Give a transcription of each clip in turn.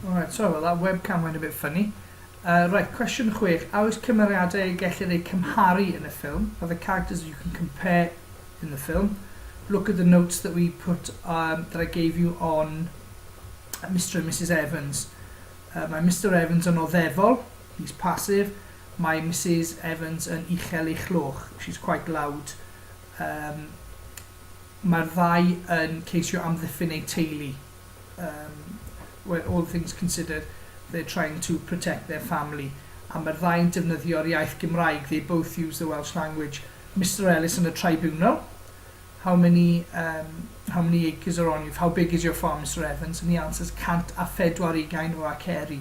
Alright, sorry about that, webcam went a bit funny. Uh, right, cwestiwn chwech. A oes cymeriadau y gellir eu cymharu yn y ffilm? Are the characters you can compare in the film? Look at the notes that we put, um, that I gave you on Mr and Mrs Evans. Uh, mae Mr Evans yn oddefol, he's passive. Mae Mrs Evans yn uchel ei chloch, she's quite loud. Um, Mae'r ddau yn ceisio amddiffyn eu teulu. Yym, well, all things considered, they're trying to protect their family. A mae'r ddau'n defnyddio'r iaith Gymraeg, they both use the Welsh language. Mister Ellis yn y tribunal, how many, um, how many acres are on you, how big is your farm, Mister Evans? And he answers, cant a phedwar ugain o aceri.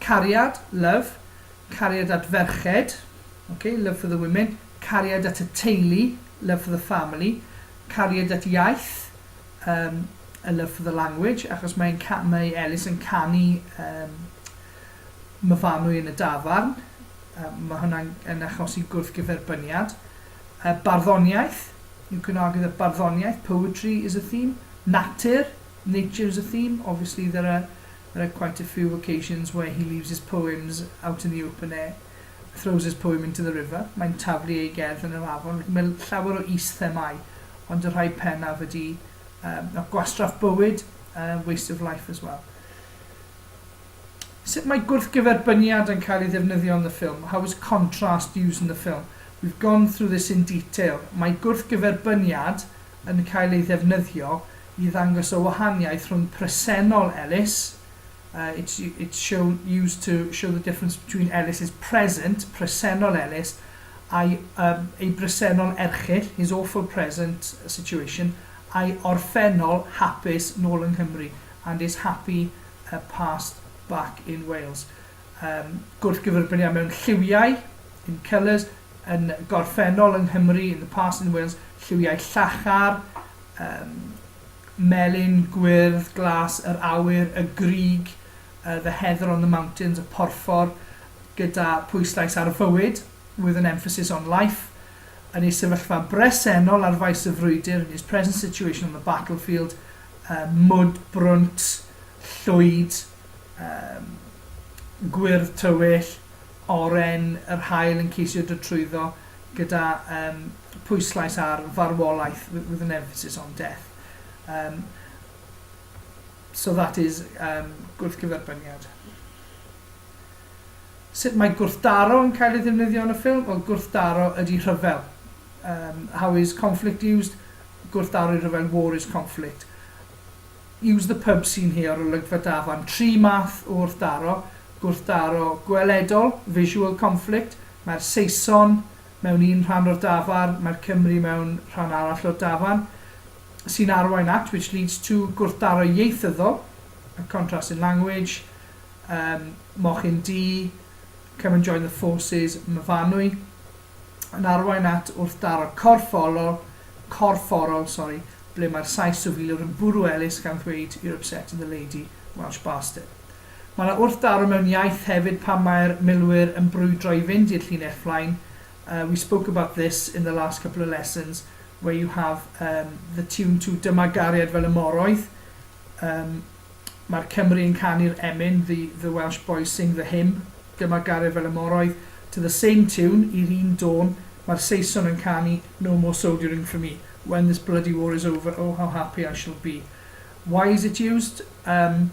Cariad, love, cariad at ferched, ok, love for the women, cariad at y teulu, love for the family, cariad at iaith, um, a love for the language, achos mae, mae Elis yn canu um, myfanwy yn y dafarn, um, mae hwnna'n yn achosi gwrthgyferbyniad. Uh, barddoniaeth, you can argue that barddoniaeth, poetry is a theme, natur, nature is a theme, obviously there are There are quite a few occasions where he leaves his poems out in the open air, throws his poem into the river, mae'n taflu ei gerdd yn yr afon, mae llawer o is-themâu, ond y rhai pennaf ydy um, a gwastraff bywyd, uh, waste of life as well. Sut mae gwrthgyferbyniad yn cael ei ddefnyddio yn y ffilm? How is contrast used in the film? We've gone through this in detail. Mae gwrthgyferbyniad yn cael ei ddefnyddio i ddangos y wahaniaeth rhwng presennol Ellis, uh, it's, it's show, used to show the difference between Ellis's present, presennol Ellis, a'i um, ei bresennol erchyll, his awful present situation, a'i orffennol hapus nôl yng Nghymru, and his happy uh, past back in Wales. Um, gwrth gyferbyniad mewn lliwiau, in colours, yn gorffennol yng Nghymru, in the past in Wales, lliwiau llachar, Yym. Melyn, gwyrdd, glas, yr awyr, y grug, yy the heather on the mountains, y porffor, gyda pwyslais ar fywyd, with an emphasis on life, yn ei sefyllfa bresennol ar faes y frwydr, in his present situation on the battlefield, yy mwd brwnt, llwyd, yym, gwyrdd tywyll, oren, yr haul yn ceisio dod trwyddo, gyda yym pwyslais ar farwolaeth wi- with an emphasis on death. Um, so that is um, gwrthgyferbyniad. Sut mae gwrthdaro yn cael ei ddefnyddio yn y ffilm? Wel, gwrthdaro ydy rhyfel. Um, how is conflict used? Gwrthdaro i rhyfel, war is conflict. Use the pub seen here ar olygfa Dafarn, tri math o wrthdaro, gwrthdaro gweledol, visual conflict, mae'r Saeson mewn un rhan o'r dafarn, mae'r Cymry mewn rhan arall o'r dafarn, sy'n arwain at, which leads to, gwrthdaro ieithyddol, a contrast in language, um, mochyn du, come and join the forces, myfanwy. yn arwain at wrthdaro corfforol, corfforol, sori, ble mae'r Sais sifiliwr yn bwrw Elis gan ddweud 'You're upsetting the lady, Welsh bastard'. Mae yna wrthdaro mewn iaith hefyd pan mae'r milwyr yn brwydro i fynd i'r llinell flaen. Uh, we spoke about this in the last couple of lessons, where you have um, the tune to Dyma gariad fel y moroedd, um, Mae'r Cymry yn canu'r emyn, the, the Welsh boys sing the hymn, dyma garreg fel y moroedd, to the same tune, i'r un dôn, mae'r Saeson yn canu, no more sodierin' for me, when this bloody war is over, oh how happy I shall be. Why is it used? Um,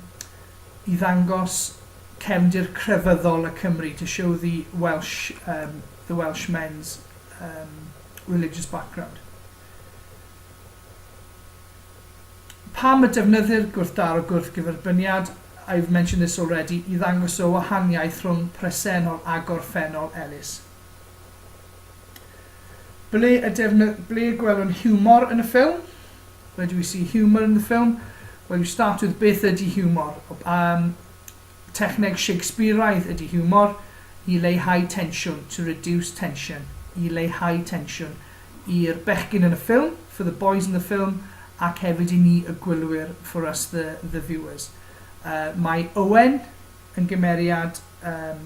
I ddangos cefndir crefyddol y Cymry, to show the Welsh, um, the Welsh men's um, religious background. Pam y defnyddir gwrthdaro gwrthgyferbyniad, I've mentioned this already, i ddangos y wahaniaeth rhwng presennol a gorffennol Elis. Ble y defny-, ble y gwelwn hiwmor yn y ffilm? Where do we see humour in the film? Well, you start with beth ydy hiwmor? Um, Techneg Shakespeareaidd ydy hiwmor, i leihau tensiwn, to reduce tension, i leihau tensiwn, i'r bechgyn yn y ffilm, for the boys in the film, ac hefyd i ni y gwylwyr, for us the the viewers. Yy, mae Owen yn gymeriad yym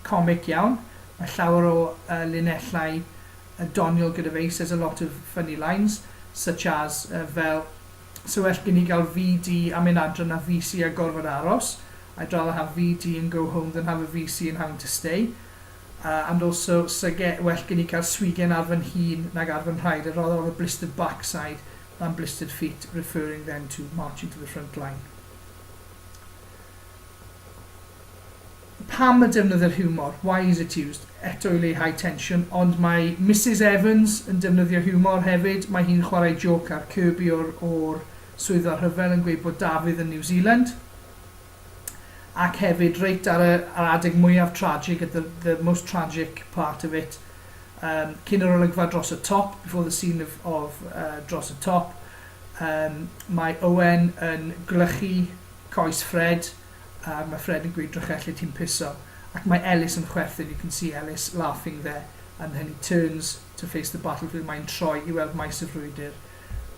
comic iawn, mae llawer o yy linellau yy doniol gyda fe, he says a lot of funny lines, such as yy fel, 'Sa well gen i gael VD a mynd adre na VC a gorfod aros, I'd rather have VD and go home than have a VC and having to stay. Uh, and also, 'sa ge- well gen i cael swigen ar fy nhîn nag ar fy nhraed, I'd rather have a blistered backside than blistered feet, referring then to marching to the front line. Pam y defnyddir hiwmor? Why is it used? Eto i leihau tensiwn, ond mae Misus Evans yn defnyddio hiwmor hefyd, mae hi'n chwarae jôc ar Kirby o'r o'r Swyddfa Rhyfel yn gweud bod Dafydd yn New Zealand, ac hefyd reit ar y ar adeg mwyaf tragic, at the the most tragic part of it, um, cyn yr olygfa dros y top, before the scene of, of uh, dros y top, um, mae Owen yn gwlychu coes Fred, a mae Fred yn gweud Drychelli ti'n piso ac mae Ellis yn chwerthin you can see Ellis laughing there and then he turns to face the battlefield mae'n troi i weld maes y frwydr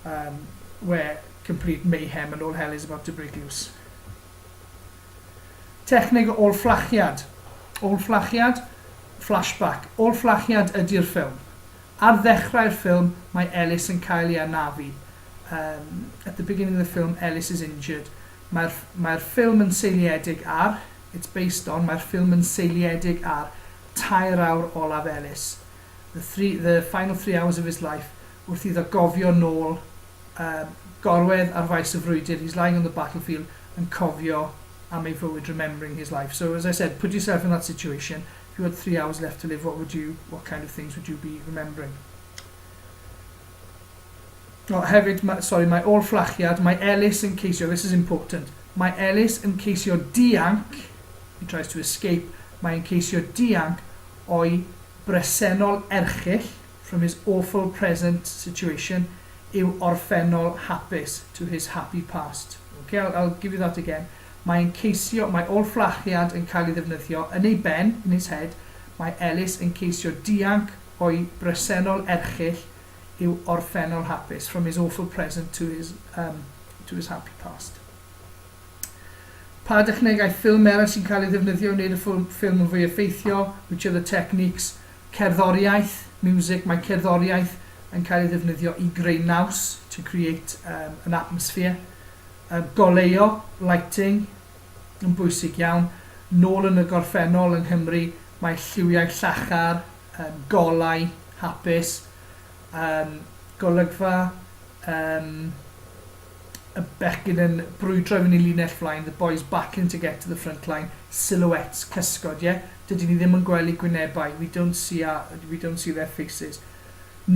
um, where complete mayhem and all hell is about to break loose Techneg o ôl-fflachiad Ôl-fflachiad, flashback, ôl-fflachiad ydi'r ffilm. Ar ddechrau'r ffilm, mae Ellis yn cael ei anafu. Um, at the beginning of the film, Ellis is injured. Mae'r, mae'r ffilm yn seiliedig ar, it's based on, mae'r ffilm yn seiliedig ar tair awr olaf Ellis, the three, the final three hours of his life, wrth iddo gofio nôl um, gorwedd ar faes y frwydr, he's lying on the battlefield, yn cofio am ei fywyd, remembering his life. So as I said, put yourself in that situation, if you had three hours left to live, what would you, what kind of things would you be remembering? O, hefyd, ma', sori, mae ôl-fflachiad, mae Elis yn ceisio, this is important, mae Elis yn ceisio dianc, he tries to escape, mae e'n ceisio dianc o'i bresennol erchyll, from his awful present situation, i'w orffennol hapus, to his happy past. Ok, I'll, I'll give you that again. Mae e'n ceisio, mae ôl-fflachiad yn cael ei ddefnyddio yn ei ben, in his head, mae Elis yn ceisio dianc o'i bresennol erchyll, yw orffennol hapus, from his awful present to his, um, to his happy past. Pa dechnegau ffilm eraill sy'n cael ei ddefnyddio i wneud y ffilm yn fwy effeithiol, which are the techniques, cerddoriaeth, music, mae cerddoriaeth yn cael ei ddefnyddio i greu naws, to create um, an atmosphere, uh, goleuo, lighting, yn bwysig iawn, nôl yn y gorffennol yng Nghymru, mae lliwiau llachar, yym golau hapus yym golygfa yym y becyn yn brwydro i fyny linell flaen the boys battling to get to the front line silhouettes cysgod ie dydyn ni ddim yn gwely gwynebau we don't see our we don't see their faces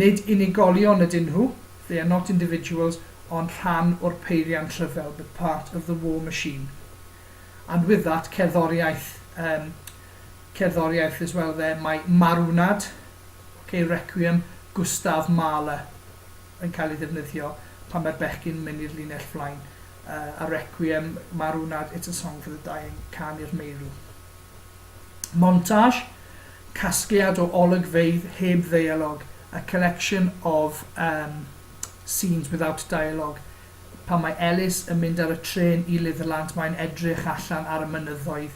nid unigolion ydyn nhw they are not individuals ond rhan o'r peiriant rhyfel but part of the war machine and with that cerddoriaeth um, cerddoriaeth Liz Welve, mae Marwnad, ok, Requiem, Gustav Mahler yn cael ei ddefnyddio pan mae'r bechgyn yn mynd i'r linell flaen, uh, a Requiem, Marwnad, It's a Song for the Dying, Can i'r Meirw. Montage, casgliad o olygfeydd heb ddeialog, a collection of um, scenes without dialogue, pan mae Ellis yn mynd ar y trên i Litherland, mae'n edrych allan ar y mynyddoedd,